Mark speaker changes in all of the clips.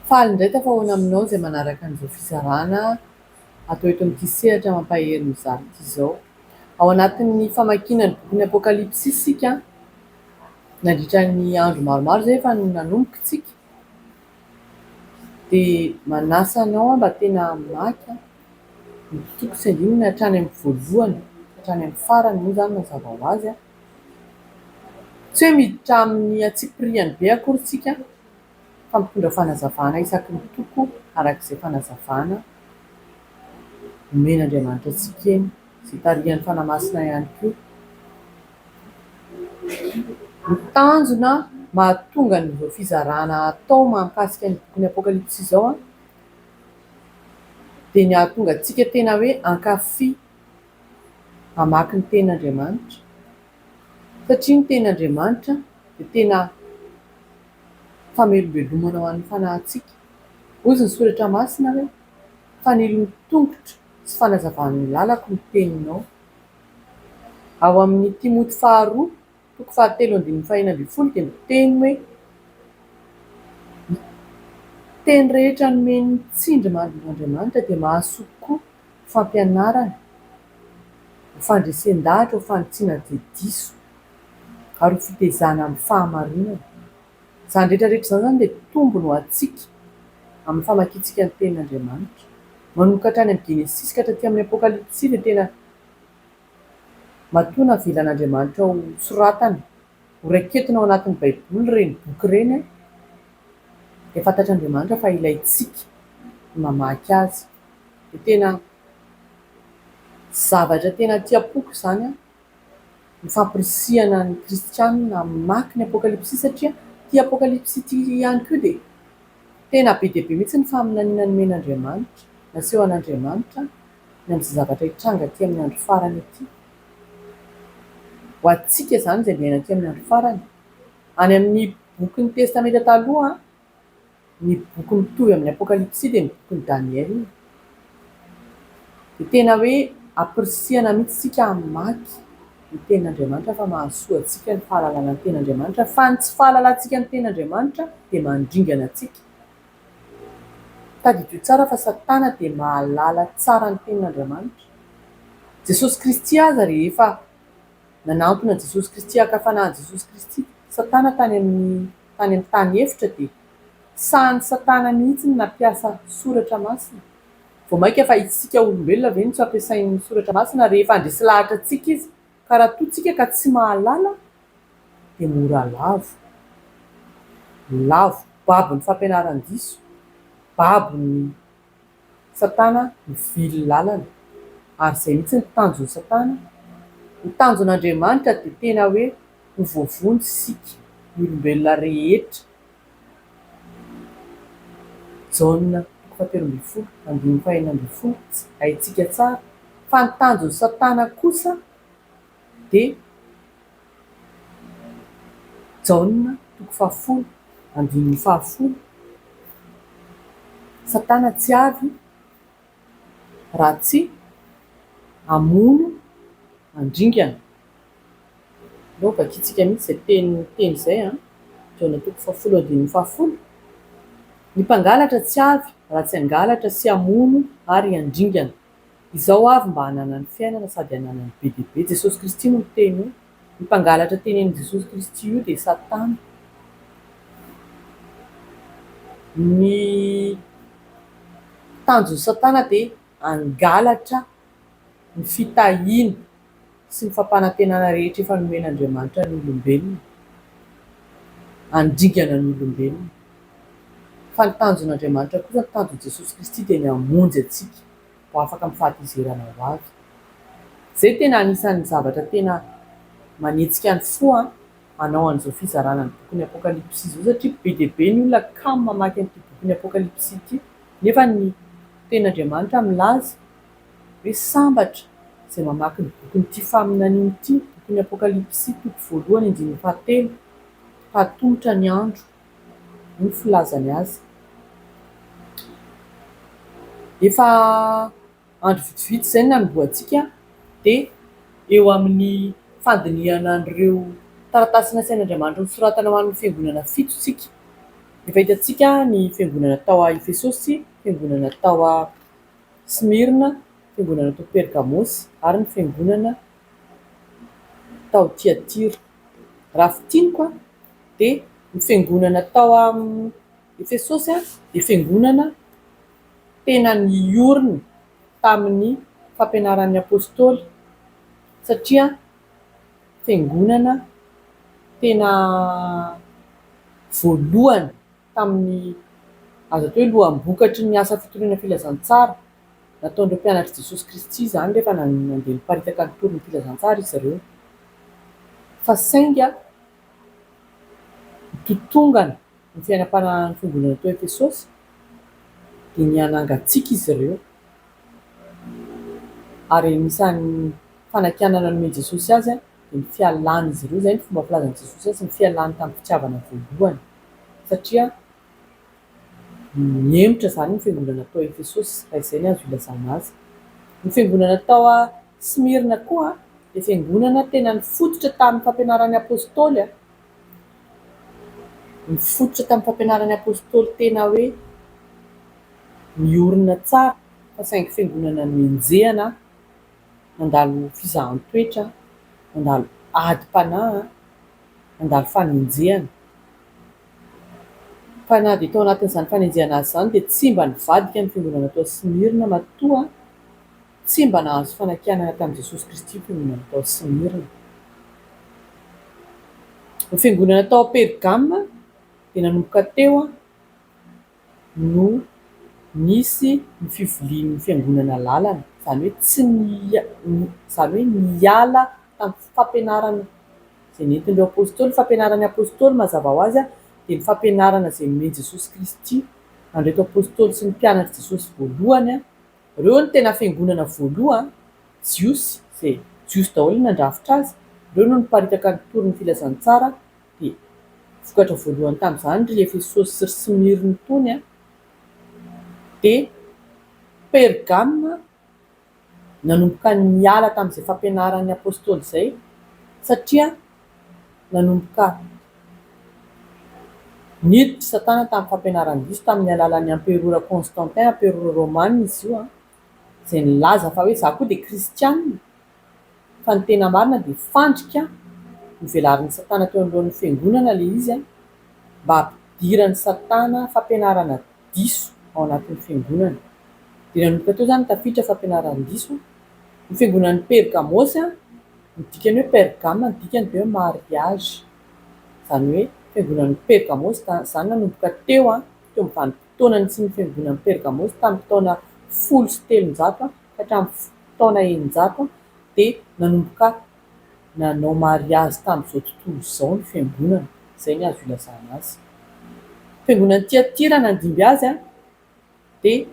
Speaker 1: Faly indray tafahoana aminao izay manaraka an'izao fizarana atao eto amin'ity sehatra mampahery ny mizara ity izao. Ao anatin'ny famakiana ny bokin'ny Apokalypsy isika, nandritra ny andro maromaro izay efa nanomboka isika, dia manasa anao aho mba tena hamaky. Ny tiko tsy andininy hatrany amin'ny voalohany ka hatrany amin'ny farany moa izany mazava ho azy. Tsy hoe miditra amin'ny antsipiriany be akory isika fa mitondra fanazavana isaky ny toko araka izay fanazavana omen'Andriamanitra antsika eny, izay tarihan'ny Fanahy Masina ihany koa. Ny tanjona mahatonga an'izao fizarana atao mahakasika ny bokin'ny Apokalypsy izao dia ny hahatonga antsika tena hoe hankafy hamaky ny teny Andriamanitra satria ny teny Andriamanitra dia tena famelombelomana ho an'ny fanahintsika. Hoy ny soratra masina hoe fanilon'ny tongotro sy fanazavan'ny lalako ny teninao. Ao amin'ny Timoty faharoa. Toko fahatelo andininy fahenina ambin'ny folo dia miteny hoe ny teny rehetra nomen'ny tsindry mandrin'Andriamanitra dia mahasoa tokoa ho fampianarana, ho fandresen-dahatra, ho fanitsiana dia diso ary ho fitezana amin'ny fahamarinana. Izany rehetra rehetra izany izany dia tombony ho antsika amin'ny famakiantsika ny tenin'Andriamanitra. Manomboka hatrany amin'ny Genesisy ka hatraty amin'ny Apokalypsy dia tena Matoa navelan'Andriamanitra ho soratana, ho raiketina ao anatin'ny Baiboly ireny boky ireny, dia fantatr'Andriamanitra fa ilaintsika ny mamaky azy. Dia tena zavatra tena aty am-poko izany ny fampirisihana ny kristianina hamaky ny Apokalypsy, satria ity Apokalypsy ity ihany koa dia tena be dia be mihitsy ny faminaniana nomen'Andriamanitra, nasehon'Andriamanitra. ny amin'izay zavatra hitranga aty amin'ny andro farany ity. Ho antsika izany izay miaina aty amin'ny andro farany. Any amin'ny bokin'ny Testamenta Taloha, ny boky mitovy amin'ny Apokalypsy dia ny bokin'i Daniela. Dia tena hoe ampirisihana mihitsy isika hamaky ny Tenin'Andriamanitra fa mahasoa antsika ny fahalalana ny Tenin'Andriamanitra, fa ny tsy fahalalantsika ny Tenin'Andriamanitra dia mandringana antsika. Tadidio tsara fa Satana dia mahalala tsara ny tenin'Andriamanitra. Jesosy Kristy aza rehefa nanantona an'i Jesosy Kristy haka fanahy an'i Jesosy Kristy Satana tany amin'ny tany amin'ny tany efitra dia sahan'i Satana mihitsy ny nampiasa soratra masina. Vao mainka fa isika olombelona ve no tsy ampiasain'ny soratra masina rehefa handresy lahatra antsika izy? Ka raha toa tsika ka tsy mahalala dia mora lavo. Lavo babon'ny fampianaran-diso, babon'ny satana mivily lalana. Ary izay mihitsy ny tanjon'i satana. Ny tanjon'Andriamanitra dia tena hoe ho voavonjy isika, ny olombelona rehetra. Jaona toko fahatelo ambin'ny folo andininy fahenina ambin'ny folo sy haintsika tsara fa ny tanjon'i Satana kosa dia Jaona toko fahafolo andininy fahafolo Satana tsy avy raha tsy hamono handringana. Aleo vakintsika mihitsy izay teny teny izay an! Jona toko fahafolo andininy fahafolo, Ny mpangalatra tsy avy raha tsy hangalatra sy hamono ary handringana. Izao avy mba hananany fiainana sady hananany be dia be. Jesosy Kristy no niteny hoe io mpangalatra tenenin'i Jesosy Kristy io dia Satana. Ny tanjon'i Satana dia hangalatra ny fitahiana sy ny fampanantenana rehetra efa nomen'Andriamanitra ny olombelona, handringana ny olombelona. Fa ny tanjon'Andriamanitra kosa, ny tanjon'i Jesosy Kristy dia ny hamonjy antsika ho afaka amin'ny fahatezerana ho avy. Izay tena anisan'ny zavatra tena manetsika ny fo an! hanao an'izao fizarana ny bokin'ny Apokalypsy izao satria be dia be ny olona kamo mamaky an'ity bokin'ny Apokalypsy ity nefa ny Tenin'Andriamanitra milaza hoe sambatra izay mamaky ny bokin'ity faminaniana ity, bokin'ny Apokalypsy toko voalohany andininy fahatelo, hahatomotra ny andro hoy ny filazany azy. Efa Andro vitsivitsy izay no nanombohantsika dia eo amin'ny fandinihana an'ireo taratasy nasain' Andriamanitra nosoratana ho an'ny fiangonana fito isika. Efa hitantsika ny fiangonana tao Efesosy, fiangonana tao Smyrna, fiangonana tao Pergamosy ary ny fiangonana tao Tiatira. Raha fintiniko dia ny fiangonana tao Efesosy dia fiangonana. tena niorina tamin'ny fampianaran'ny Apostoly satria fiangonana tena voalohany tamin'ny azo atao hoe loham-bokatry ny asa fitoriana filazantsara nataon'ireo mpianatr'i Jesosy Kristy izany rehefa nandeha niparitaka nitory ny filazantsara izy ireo fa sainga nitontongana Ny fiainam-panahin'ny fiangonana tao Efesosy dia nihanangan-tsiky izy ireo, ary anisan'ny fanakianana nomen'i Jesosy azy dia ny fialan'izy ireo, izay no fomba filazan'i Jesosy azy, ny fialany tamin'ny fitiavana voalohany, satria nihemotra izany ny fiangonana tao Efesosy, raha izay no azo ilazana azy. Ny fiangonana tao Smyrna koa dia fiangonana tena nifototra tamin'ny fampianaran'ny Apostoly. Nifototra tamin'ny fampianaran'ny Apostoly tena hoe miorina tsara fa saingy fiangonana nenjehana, nandalo fizahan-toetra, nandalo adim-panahy, nandalo fanenjehana. Fa na dia tao anatin'izany fanenjehana azy izany dia tsy mba nivadika ny fiangonana tao Smyrna matoa. Tsy mba nahazo fanakianana tamin'i Jesosy Kristy toy ny natao Simirna. Ny fiangonana tao Pergama dia nanomboka teo no nisy ny fivilian'ny fiangonana lalana, izany hoe tsy izany hoe niala tamin'ny fampianarana izay nentin'ireo apostoly. Ny fampianaran'ny apostoly mazava ho azy dia ny fampianarana izay nomen'i Jesosy Kristy an'ireto apostoly sy ny mpianatr'i Jesosy voalohany. Reo no tena fiangonana voalohan jiosy zay jiosy daholo no nandrafitra azy reo no niparitaka ny tory ny filazantsara de vokatra voalohany tamzany ry efesosy sy ry smyrne tony a de pergame nanomboka niala tamzay fampianaran'ny apostoly zay satria Nanomboka niditra i Satana tamin'ny fampianarany diso tamin'ny alalan'ny Amperora Constantin, Amperora Romana izy io, izay nilaza fa hoe izaho koa dia kristiana, fa ny tena marina dia fandrika novelarin'i Satana teo anoloan'ny Fiangonana ilay izy mba hampidiran'i Satana fampianarana diso ao anatin'ny Fiangonana. Dia nanomboka teo izany ny tafiditra fampianaran-diso. Ny Fiangonan'i Pergamôsy. Ny dikan'ny hoe Pergama, ny dikany dia hoe mariazy. Izany hoe fiangonan'i Pergamo izany nanomboka teo, teo amin'ny vanim-potoana nisian'ny fiangonan'i Pergamo tamin'ny taona folo sy telonjato ka hatramin'ny taona eninjato dia nanomboka nanao mariazy tamin'izao tontolo izao ny fiangonana. Izay ny azo ilazana azy. Ny fiangonan'i Tiatira nandimby azy. dia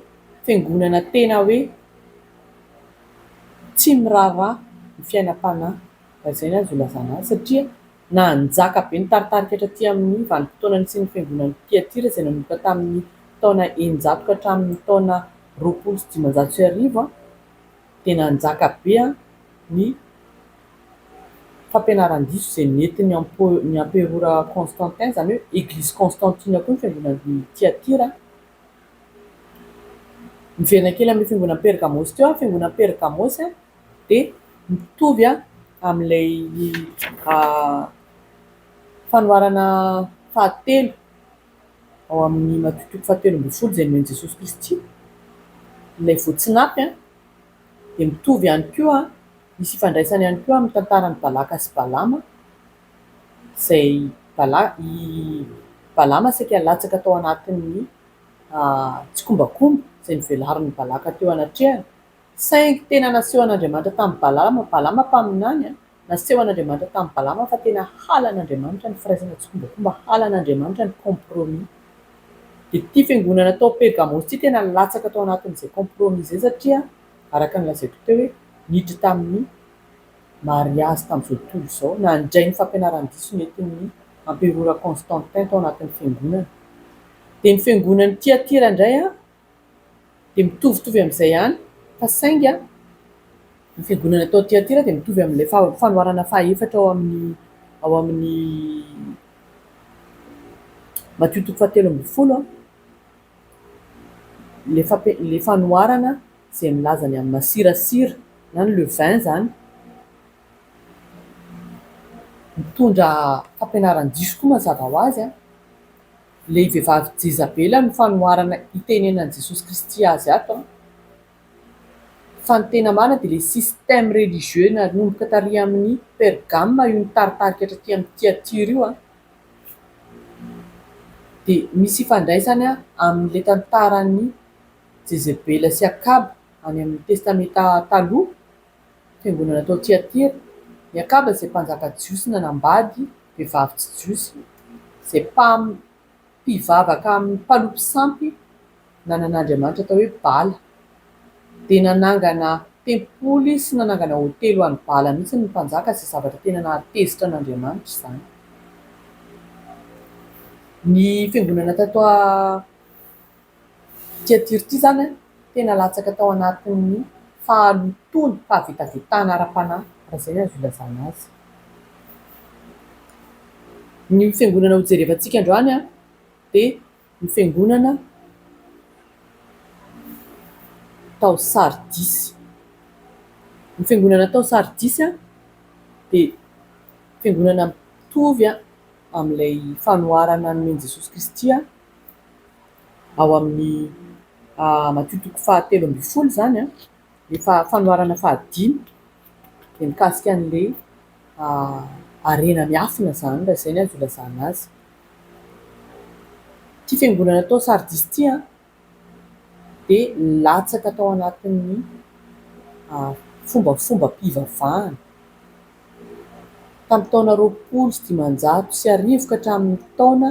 Speaker 1: fiangonana tena hoe tsy miraharaha ny fiainam-panahy raha izay no azo ilazana azy satria nanjaka be ny taritarika hatraty amin'ny vanim-potoana nisian'ny fiangonan'i Tiatira izay nanomboka tamin'ny taona eninjato ka hatramin'ny taona roapolo sy dimanjato sy arivo. dia nanjaka be ny fampianaran-diso izay nentin'ny emperora Constantin, izany hoe Eglizy Constantine koa ny fiangonan'i Tiatira. Miverina kely amin'ny fiangonan'i Pergamôsy teo, ny fiangonan'i Pergamôsy dia mitovy amin'ilay fanoharana fahatelo. ao amin'ny Matio toko fahatelo ambin'ny folo izay nomen'i Jesosy Kristy, ilay voa tsy naty an, dia mitovy ihany koa, misy ifandraisany ihany koa amin'ny tantaran'i Balaka sy Balama, izay Balaka, i Balama saika latsaka tao anatin'ny tsikombakomba izay novelarin'i Balaka teo anatrehany, saingy tena nasehon'Andriamanitra tamin'i Balama, Balama mpaminany an, Naseho an'Andriamanitra tamin'i Balama fa tena halan'Andriamanitra ny firaisana tsikombakomba, halan'Andriamanitra ny compromis. Dia ity fiangonana tao Pergamos ity tena latsaka tao anatin'izay compromis izay satria araka ny lazaiko teo hoe niditra tamin'ny mariazy tamin'izao tontolo izao, nandray ny fampianaran-diso nentin'ny Amperora Constantin tao anatin'ny fiangonana. Dia ny fiangonan'i Tyatira indray an! dia mitovitovy amin'izay ihany, fa saingy ny fiangonana tao Tyatira dia mitovy amin'ilay fanoharana fahaefatra ao amin'ny ao amin'ny Matio toko fahatelo ambin'ny folo, ilay fampi- ilay fanoharana izay milaza ny amin'ny masirasira na ny levain izany, mitondra fampianaran-diso koa mazava ho azy an! Ilay vehivavy Jezabela no fanoharana itenenan'i Jesosy Kristy azy ato an! Fa ny tena marina dia ilay système religieux nanomboka tary amin'i Pergame io nitaritarika hatraty amin'i Tiatyra io an! Dia misy ifandraisany amin'ilay tantaran'i Jezebela sy Akaba any amin'ny Testamenta Taloha Fiangonana tao Tiatira, Miakaba izay mpanjaka jiosy nanambady vehivavy tsy jiosy, izay mpam, pivavaka amin'ny mpalopy sampy nanana andriamanitra atao hoe Bala. Dia nanangana tempoly sy nanangana hotely ho an'i Bala mihitsy ny mpanjaka izay zavatra tena nahatezitra an'Andriamanitra izany. Ny fiangonana tato. Ity adiro ity izany tena latsaka tao anatin'ny fahalotoana, fahavetavetana ara-panahy, raha izay no azo ilazana azy. Ny fiangonana hojerevantsika androany dia ny fiangonana tao Sardisy. Ny fiangonana tao Sardisy dia fiangonana mitovy amin'ilay fanoharana nomen'i Jesosy Kristy. ao amin'ny matiotoko fahatelo ambin'ny folo izany ny fanoharana fahadimy dia mikasika an'ilay harena miafina izany raha izay no azo ilazana azy. Ity fiangonana tao Sardis ity dia nilatsaka tao anatin'ny fombafombam-pivavahana tamin'ny taona roapolo sy dimanjato sy arivo ka hatramin'ny taona ...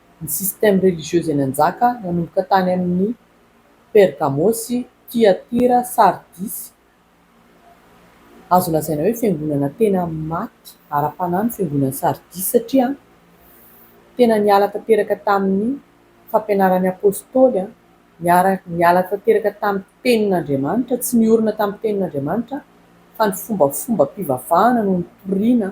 Speaker 1: Ny système religieux izay nanjaka nanomboka tany amin' i Pergamôsy, Tiatira, Sardisy, azo lazaina hoe fiangonana tena maty ara-panahy ny fiangonan'i Sardisy satria tena niala tanteraka tamin' ny fampianaran' ny Apôstôly, niala tanteraka tamin'ny tenin' Andriamanitra, tsy niorina tamin'ny tenin' Andriamanitra fa ny fombafombam-pivavahana no nitoriana.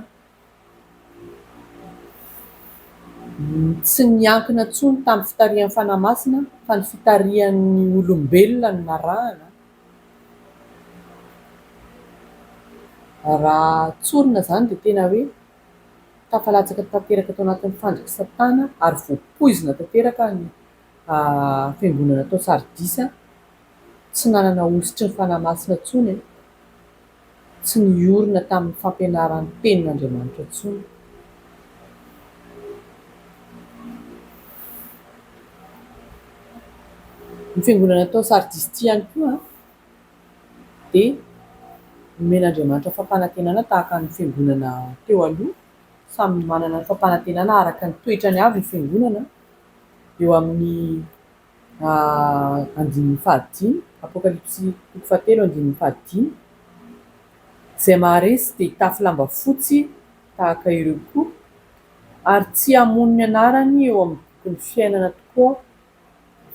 Speaker 1: Tsy niankina intsony tamin'ny fitarihan'ny Fanahy Masina fa ny fitarihan'ny olombelona no narahana, raha tsorina izany dia tena hoe tafalatsaka tanteraka tao anatin'ny fandrik'i Satana ary voapoizina tanteraka ny fiangonana tao Sardisa, tsy nanana hosotry ny Fanahy Masina intsony e! tsy niorina tamin'ny fampianarany ny tenin'Andriamanitra intsony. Ny fiangonana tao Sardis ity ihany koa dia nomen'Andriamanitra fampanantenana tahaka ny fiangonana teo aloha, samy manana ny fampanantenana araka ny toetrany avy ny fiangonana eo amin'ny Ah, andininy fahadimy, Apokalypsy toko fahatelo andininy fahadimy, Izay maharesy dia hitafy lamba fotsy tahaka ireo koa, ary tsy hamono ny anarany eo amin'ny bokin'ny fiainana tokoa aho,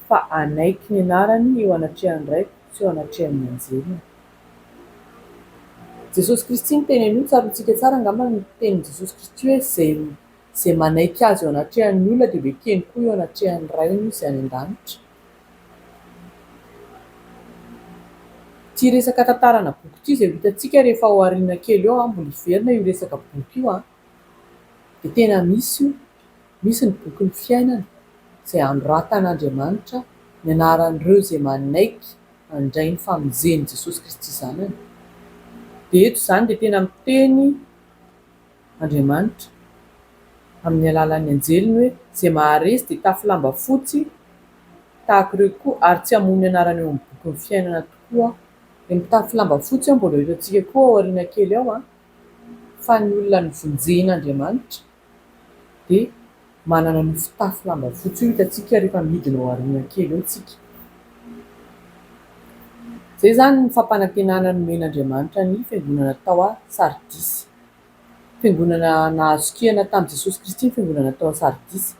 Speaker 1: fa hanaiky ny anarany eo anatrehan'ny Raiko sy eo anatrehan'ny anjeliny. Jesosy Kristy no teny an'io, tsaroantsika tsara angamba ny tenin'i Jesosy Kristy hoe, Izay Izay manaiky Azy eo anatrehan'ny olona dia ho ekeny koa eo anatrehan'ny Rainy Izay any an-danitra. Ity resaka tantarana boky ity izay ho hitantsika rehefa ao aoriana kely eo, mbola hiverina io resaka boky io, dia tena misy io, misy ny bokin'ny fiainana izay hanoratan'Andriamanitra ny anaran'ireo izay manaiky handray ny famonjen'i Jesosy Kristy Zanany. Dia eto izany dia tena miteny. Andriamanitra amin'ny alalan'ny anjeliny hoe, Izay maharesy dia tafy lamba fotsy tahaka ireo tokoa, ary tsy hamono ny anarany eo amin'ny bokin'ny fiainana tokoa aho. Dia mitafy lamba fotsy aho, mbola ho hitantsika koa ao aoriana kely ao, fa ny olona novonjen'Andriamanitra dia. manana an'io fitafy lamba fotsy io hitantsika rehefa midina ao aoriana kely eo isika. Izay izany ny fampanantenana nomen'Andriamanitra ny fiangonana tao Sardisy. Fiangonana nahazo kihana tamin'i Jesosy Kristy ny fiangonana tao Sardisy.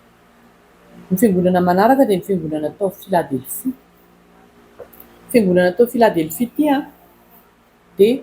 Speaker 1: Ny fiangonana manaraka dia ny fiangonana tao Filadelfia. Fiangonana tao Filadelfia ity dia.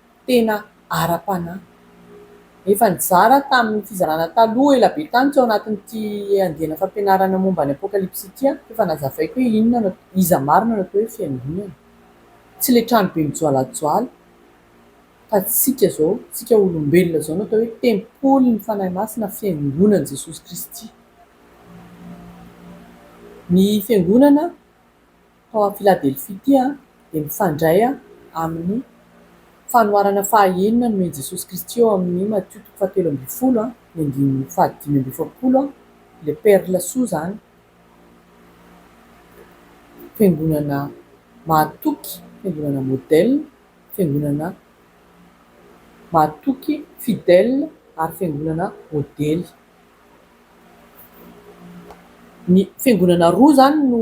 Speaker 1: tena ara-panahy. Efa nizara tamin'ny fizarana taloha ela be tany teo anatin'ity andiana fampianarana momba ny Apokalypsy ity aho, efa nazavaiko hoe inona no, iza marina no atao hoe fiangonana. Tsy ilay tranobe mijoalajoala, fa tsika izao, tsika olombelona izao no atao hoe tempolin'ny Fanahy Masina, fiangonan'i Jesosy Kristy. Ny fiangonana tao amin'i Filadelfia ity dia mifandray amin'ny fanoharana fahaenina nomen'i Jesosy Kristy eo amin'ny Matio toko fahatelo ambin'ny folo ny andininy fahadimy amby efapolo, ilay perla soa izany, fiangonana mahatoky, fiangonana modèle, fiangonana mahatoky, fidèle, ary fiangonana modely. Ny fiangonana roa izany no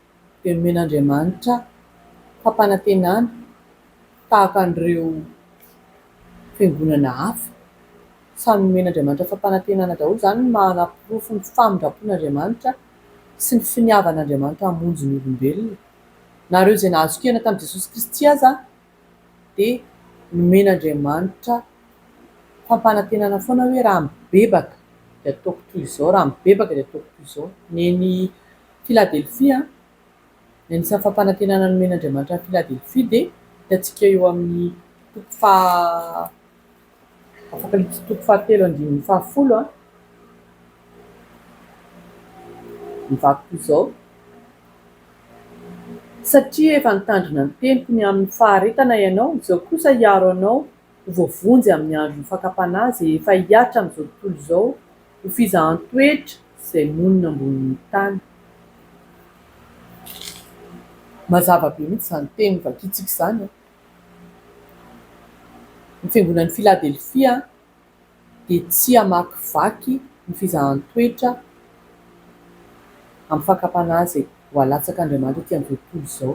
Speaker 1: dia nomen'Andriamanitra fampanantenana tahaka an'ireo fiangonana hafa. Samy nomen'Andriamanitra fampanantenana daholo. Izany no manaporofo ny famindram-pon'Andriamanitra sy ny finiavan'Andriamanitra hamonjy ny olombelona. Na ireo izay nahazo-kena tamin'i Jesosy Kristy aza dia nomen'Andriamanitra fampanantenana foana hoe raha mibebaka dia ataoko toy izao, raha mibebaka dia ataoko toy izao. Neny Filadelfia, Ny anisan'ny fampanantenana nomen'Andriamanitra an'i Filadelfia dia hitantsika eo amin'ny toko faha, Apokalypsy toko fahatelo andininy fahafolo a. Ny vaky toy izao, Satria efa nitandrina ny teniko ny amin'ny faharetana ianao, izao kosa hiaro anao ho voavonjy amin'ny andron'ny fakam-panahy izay efa hihatra amin'izao tontolo izao ho fizahan-toetra izay monina ambonin'ny tany. Mazava be mihitsy izany teny vakintsika izany. Ny fiangonan'i Filadelfia. dia tsy hamakivaky ny fizahan-toetra amin'ny fakam-panahy izay voalatsak'Andriamanitra ety amin'izao tontolo izao.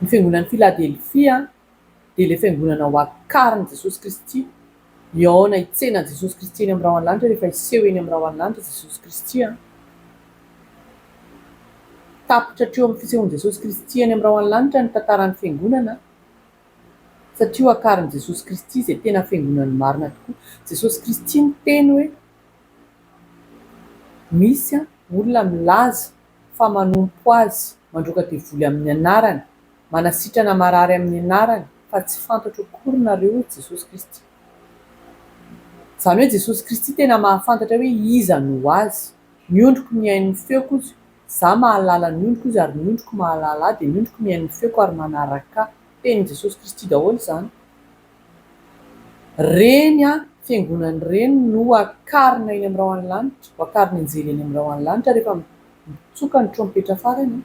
Speaker 1: Ny fiangonan'i Filadelfia dia ilay fiangonana ho akarin'i Jesosy Kristy. Mihaona hitsena an'i Jesosy Kristy eny amin'ny rahon'ny lanitra rehefa hiseho eny amin'ny rahon'ny lanitra Jesosy Kristy. Tapitra hatreo amin'ny fisehoan'i Jesosy Kristy eny amin'ny rahon'ny lanitra ny tantaran'ny fiangonana. Satria ho akarin'i Jesosy Kristy izay tena fiangonan'ny marina tokoa. Jesosy Kristy niteny hoe, Misy olona milaza fa manompo Azy, mandroaka devoly amin'ny anarany, manasitrana marary amin'ny anarany, fa tsy fantatro akory nareo, hoy Jesosy Kristy. Izany hoe Jesosy Kristy tena mahafantatra hoe iza no Azy. Ny ondriko mihaino ny feoko ozy, za mahalala ny ondriko ozy ary ny ondriko mahalala ahy dia ny ondriko mihaino ny feoko ary manaraka ahy. Tenin'i Jesosy Kristy daholo izany. Reny an, fiangonany reny no akarina eny amin'ny rahon'ny lanitra, ho akariny anjely eny amin'ny rahon'ny lanitra rehefa mitsoka ny trompetra farany an.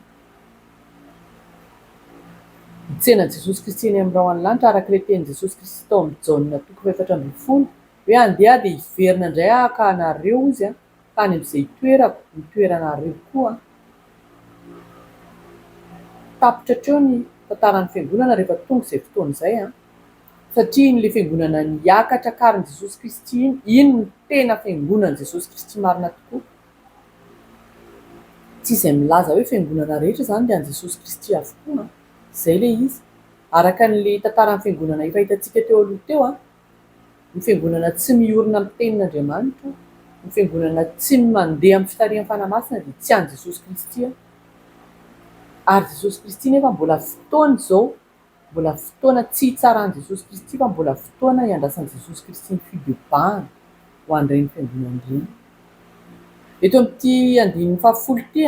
Speaker 1: Hitsena Jesosy Kristy eny amin'ny rahon'ny lanitra araka ilay tenin'i Jesosy Kristy tao amin'ny Jaona toko faha efatra ambin'ny folo Hoe andeha dia hiverina indray haka anareo izy an, tany amin'izay itoerako, ny toeranareo koa an. Tapitra hatreo ny tantaran'ny Fiangonana rehefa tonga izay fotoana izay an. Satria iny ilay Fiangonana niakatra karin'i Jesosy Kristy iny, iny no tena Fiangonan'i Jesosy Kristy marina tokoa. Tsy izay milaza hoe Fiangonana rehetra izany dia an'i Jesosy Kristy avokoa an. Izay ilay izy. Araka an'ilay tantaran'ny Fiangonana efa hitantsika teo aloha teo an, ny fiangonana tsy miorina amin'ny tenin'Andriamanitra, ny fiangonana tsy mandeha amin'ny fitarihan'ny Fanahy Masina dia tsy an'i Jesosy Kristy aho. Ary Jesosy Kristy nefa mbola fotoana izao, mbola fotoana tsy hitsaran'i Jesosy Kristy fa mbola fotoana hiandrasan'i Jesosy Kristy ny fibebahana ho an'ireny fiangonana ireny. Eto amin'ity andininy fahafolo ity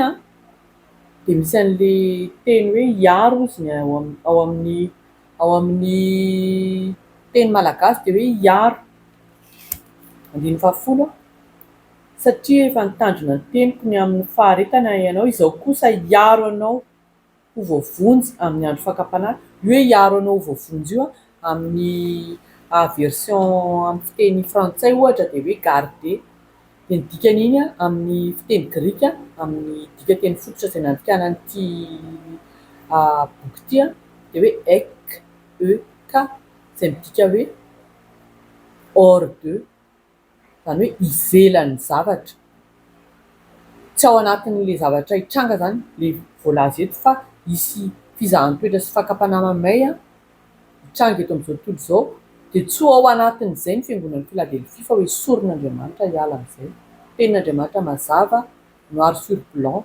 Speaker 1: dia misy an'ilay teny hoe hiaro izy ny ao amin'ny ao amin'ny teny malagasy dia hoe hiaro, andininy fahafolo, satria efa nitandrina ny teniko ny amin'ny faharetana ianao, izao kosa hiaro anao ho voavonjy amin'ny andro fakam-panahy, io hoe hiaro anao ho voavonjy io amin'ny aversion amin'ny fiteny frantsay ohatra dia hoe garder. dia ny dikan'iny amin'ny fiteny grika amin'ny dikanteny fototra izay nandikana an'ity boky ity dia hoe ek e ka izay midika hoe hors de izany hoe ivelan'ny zavatra, tsy ao anatin'ilay zavatra hitranga izany ilay voalaza eto fa hisy fizahan-toetra sy fakam-panahy mahamay. mitranga eto amin'izao tontolo izao dia tsy ho ao anatin'izay ny fiangonan'i Philadelphie fa ho esorin' Andriamanitra hiala amin'izay. Tenin' Andriamanitra mazava noir sur blanc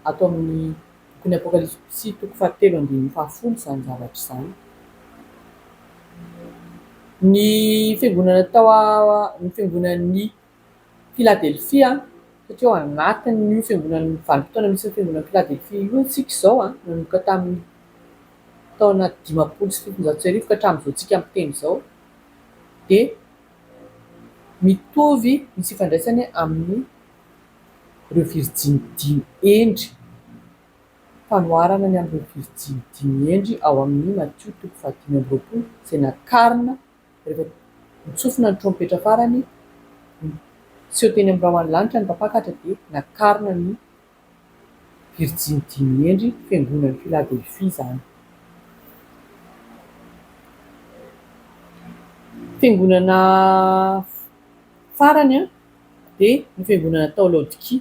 Speaker 1: ato amin'ny bokin'ny Apokalypsy toko fahatelo andininy fahafolo izany zavatra izany. Ny fiangonana tao ny fiangonan'ny Philadelphia satria ao anatin'io fiangonan'ny vanim-potoana misy ny fiangonan'i Philadelphia io isika izao, nanomboka tamin'ny taona dimampolo sy fitonjato sy arivo ka hatramin'izao tsika miteny izao dia mitovy misy ifandraisany amin'ny ireo virijiny dimy hendry, fanoharana ny amin'ireo virijiny dimy hendry ao amin'ny Matio toko fahadimy amby roapolo izay nakarina Rehefa nitsofina ny trompetra farany, niseho teny amin'ny rahon'ny lanitra ny mpampakatra dia nakarina ny Virjiny dimy miendry fiangonan'i Filadelfia izany. Fiangonana farany dia ny fiangonana tao Laodikia.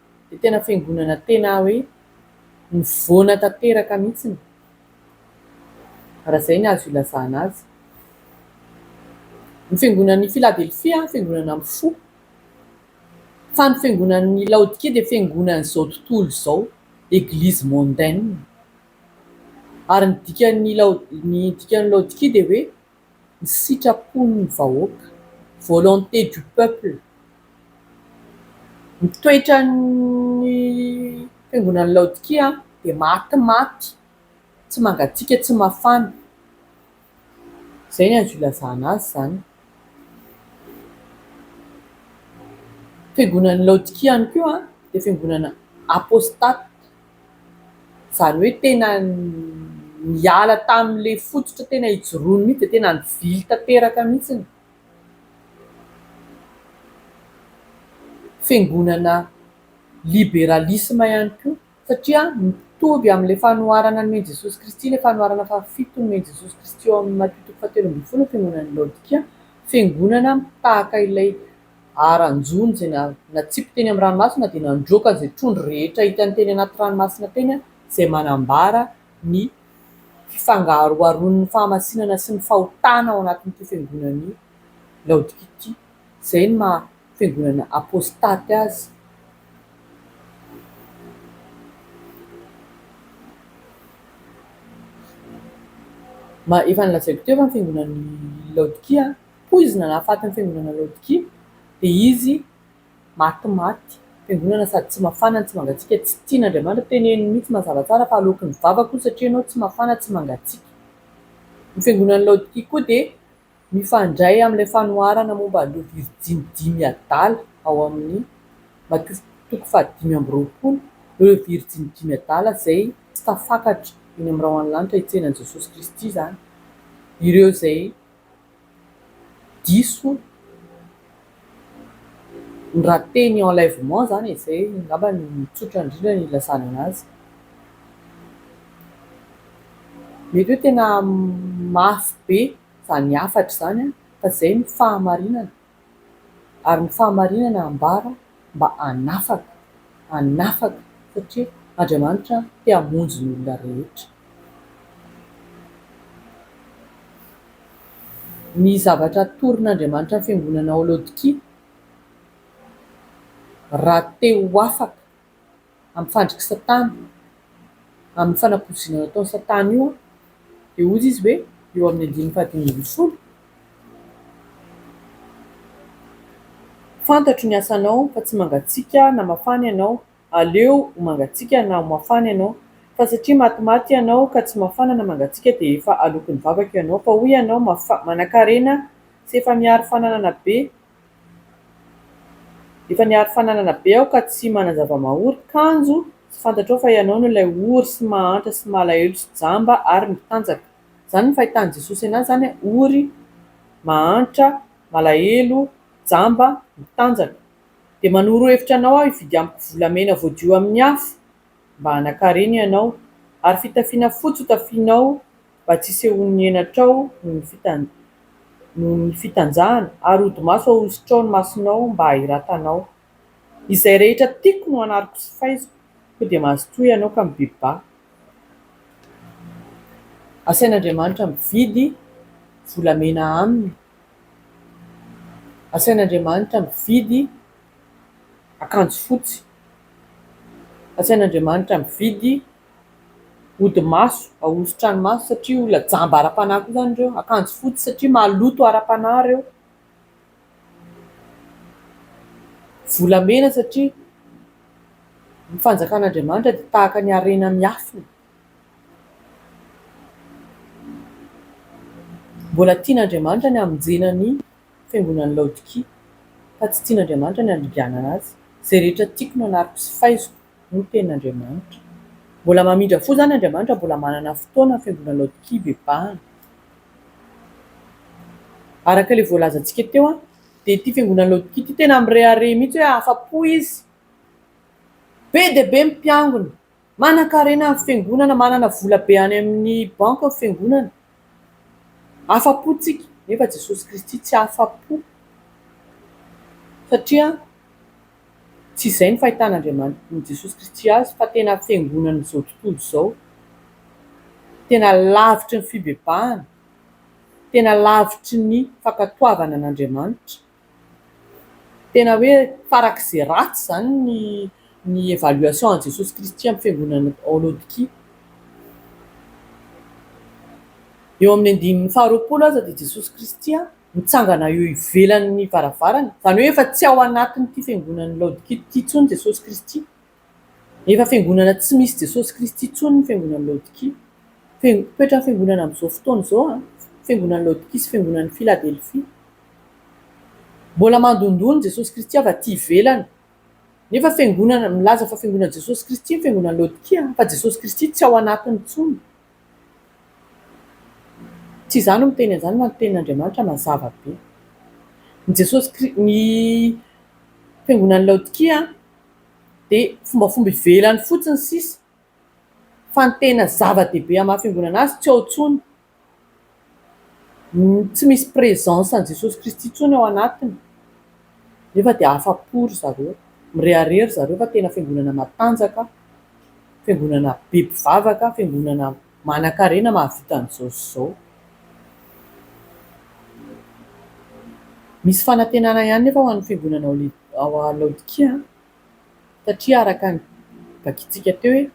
Speaker 1: dia tena fiangonana tena hoe nivoana tanteraka mihitsy ny raha izay ny azo ilazana azy. Ny fiangonan'i Filadelfia fiangonana amin'ny fo, fa ny fiangonan'i Laodikia dia fiangonan'izao tontolo izao, église mondaine. Ary ny dikan'ny Laodikia dia hoe. ny sitrapon'ny vahoaka, volonté du peuple, ny toetran'ny fiangonan'i Laodikia dia maty maty, tsy mangatsiaka tsy mafana, izay no azo ilazana azy izany, fiangonan'i Laodikia ihany koa dia fiangonana apostaty. Izany hoe tena niala tamin'ilay fototra tena hijoroany mihitsy dia tena nivily tanteraka mihitsy ny fiangonana liberalisma ihany koa satria mitovy amin'ilay fanoharana ny nomen'i Jesosy Kristy, ilay fanoharana fahafito nomen'i Jesosy Kristy ao amin'ny Matio toko fahatelo ambin'ny folo ny fiangonan'i Laodikia, fiangonana tahaka ilay. ary anjony izay natsipy teny amin'ny ranomasina dia nandroaka izay trondro rehetra hitany teny anaty ranomasina teny izay manambara ny fifangaroharoan'ny fahamasinana sy ny fahotana ao anatin'ity fiangonana i Laodikia ity, izay ny maha fiangonana apostaty azy. Efa nolazaiko teo fa ny fiangonan'i Laodikia. Hoy izy nanahafaty ny fiangonana Laodikia, dia izy matimaty fiangonana sady tsy mafana no tsy mangatsiaka, tsy tian' Andriamanitra teneniny mihitsy mazava tsara fa aloaky ny vavako hoy satria ianao tsy mafana tsy mangatsiaka. Ny fiangonan'i Laodikia koa dia mifandray amin'ilay fanoharana momba an'ireo virjiny dimy adala ao amin'ny Mat. Toko fahadimy amby roapolo, ireo virjiny dimy adala izay tsy tafakatra eny amin'ny rahona lanitra hitsenan'i Jesosy Kristy izany, ireo izay diso ny raha teny enlèvement izany e, izay angamba no tsotra indrindra ny ilazana an'azy, mety hoe tena mafy be izany hafatra izany fa izay no fahamarinana. ary ny fahamarinana ambara mba hanafaka, hanafaka satria Andriamanitra te hamonjy ny olona rehetra. Ny zavatra atoron'Andriamanitra ny fiangonana ao Laodikia, raha te ho afaka, amin'ny fandrik'i Satana, amin'ny fanaporoziana nataon'i Satana io, dia hoy izy hoe, eo amin'ny andininy fahadimy ambin'ny folo, Fantatro ny asanao, fa tsy mangatsiaka na mafana ianao, aleo ho mangatsiaka na ho mafana ianao. Fa satria matimaty ianao, ka tsy mafana na mangatsiaka, dia efa alokin'ny vavako ianao. Fa hoy ianao, Mafa, manankarena, sy efa miharo fananana be, Efa niaro fananana be aho ka tsy manan-java-mahory, kanjo tsy fantatrao fa ianao no ilay ory sy mahantra sy malahelo sy jamba ary mitanjaka. Izany no fahitan'i Jesosy an'ahy izany an, ory, mahantra, malahelo, jamba, mitanjaka. Dia manoro hevitra anao aho hividy amiko volamena voadio amin'ny afo mba hanakarena ianao, ary fitafiana fotsy hotafianao, mba tsy hisehoan'ny henatrao noho ny fitanjahana, ary hodimaso hahosotrao ny masonao mba hahiratanao. Izay rehetra tiako no anariko sy faiziko, koa dia mazotoa ianao ka mibibi-ba. Asain'Andriamanitra mividy volamena aminy, asain'Andriamanitra mividy akanjo fotsy, asain'Andriamanitra mividy ody maso, ahosotra ny maso satria olona jamba ara-panahy koa izany ireo, akanjo fotsy satria maloto ara-panahy ireo, volamena satria ny fanjakan'Andriamanitra dia tahaka ny harena miafina, mbola tian'Andriamanitra ny hamonjena ny fiangonan'i Laodikia fa tsy tian'Andriamanitra ny handringanana azy, izay rehetra tiako no anariko sy faiziko. no tenin'Andriamanitra. Mbola mamindra fo izany Andriamanitra, mbola manana fotoana hafiangonana laodikia bebahana. Araka ilay voalazantsika teo dia ity fiangonan'i laodikia ity tena mirehareha mihitsy hoe afa-po izy, be dia be ny mpiangona, manankarena ny fiangonana, manana vola be any amin'ny banky ny fiangonana, afa-po isika, nefa Jesosy Kristy tsy afa-po satria Tsy izay ny fahitan'Andriamanitry Jesosy Kristy azy fa tena fiangonan'izao tontolo izao, tena lavitry ny fibebahana, tena lavitry ny fankatoavana an'Andriamanitra, tena hoe farak'izay ratsy izany ny ny évaluation an'i Jesosy Kristy amin'ny fiangonana ao Laodikia. Eo amin'ny andininy faharoapolo aza dia Jesosy Kristy mitsangana eo ivelan'ny varavarana, izany hoe efa tsy ao anatin'ity fiangonan'ny Laodikia ity intsony Jesosy Kristy. Efa fiangonana tsy misy Jesosy Kristy intsony ny fiangonan'ny Laodikia. Toetran'ny fiangonana amin'izao fotoana izao, fiangonan'ny Laodikia sy fiangonan'ny Filadelfia. Mbola mandondona Jesosy Kristy avy aty ivelany. Nefa fiangonana, milaza fa fiangonan'i Jesosy Kristy ny fiangonan'ny Laodikia, fa Jesosy Kristy tsy ao anatiny intsony. Tsy izaho no miteny an'izany fa ny tenin'Andriamanitra mazava be. Ny Jesosy Kri- ny fiangonan'i Laodikia dia fombafomba ivelany fotsiny sisa fa ny tena zava-dehibe amin'ny maha fiangonana azy tsy ao intsony. tsy misy presence an'i Jesosy Kristy intsony ao anatiny nefa dia afa-po ry zareo, mirehareha ry zareo fa tena fiangonana matanjaka, fiangonana be mpivavaka, fiangonana manankarena mahavita an'izao sy izao. Misy fanantenana ihany nefa ho an'ny fiangonana ao Laodikia an! Satria araka ny vakintsika teo hoe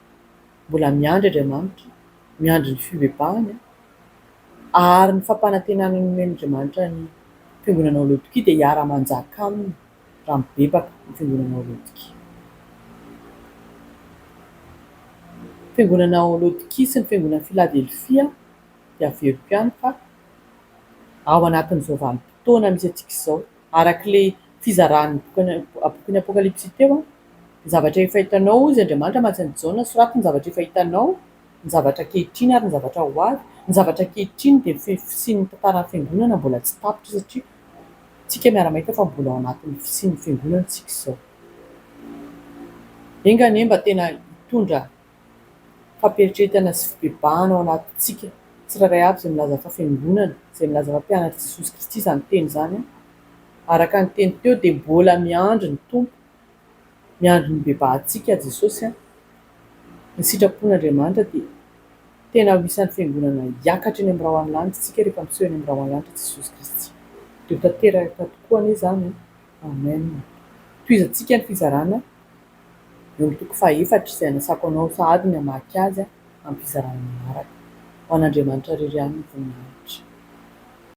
Speaker 1: mbola miandry Andriamanitra, miandry ny fibebahany ary ny fampanantenana nomen'Andriamanitra ny Fiangonana ao Laodikia dia hiara-manjaka aminy raha mibebaka ny Fiangonana ao Laodikia. Ny Fiangonana ao Laodikia sy ny Fiangonan'i Filadelfia dia averiko ihany fa ao anatin'izao vanim-potoana misy antsika izao araka ilay fizaràn'ny bokin'ny Apokalypsy teo, ny zavatra efa hitanao, hoy izy Andriamanitra hamatsy an'i Jaona, soraty ny zavatra efa hitanao, ny zavatra ankehitriny ary ny zavatra ho avy. Ny zavatra ankehitriny dia ny fisian'ny tantaran'ny Fiangonana mbola tsy tapitra satria isika miara-mahita fa mbola ao anatin'ny fisian'ny Fiangonana isika izao. Enga anie mba tena hitondra. fampieritrertana sy fibebahana ao anatintsika tsirairay avy izay milaza fa fiangonana, izay milaza fa mpianatr'i Jesosy Kristy izany teny izany. Araka ny teny teo dia mbola miandry ny Tompo, miandry ny hibebahantsika Jesosy. Ny sitrapon'Andriamanitra dia tena ho isan'ny fiangonana hiakatra eny amin'ny rahon'ny lanitra isika rehefa miseho eny amin'ny rahon'ny lanitra Jesosy Kristy. Dia ho tanteraka tokoa anie izany. Amen. Tohizantsika ny fizarana Eo amin'ny toko fahaefatra, izay anasako anao sahady ny hamaky azy, ampizarana ny manaraka, Ho an'Andriamanitra irery ihany ny voninahitra.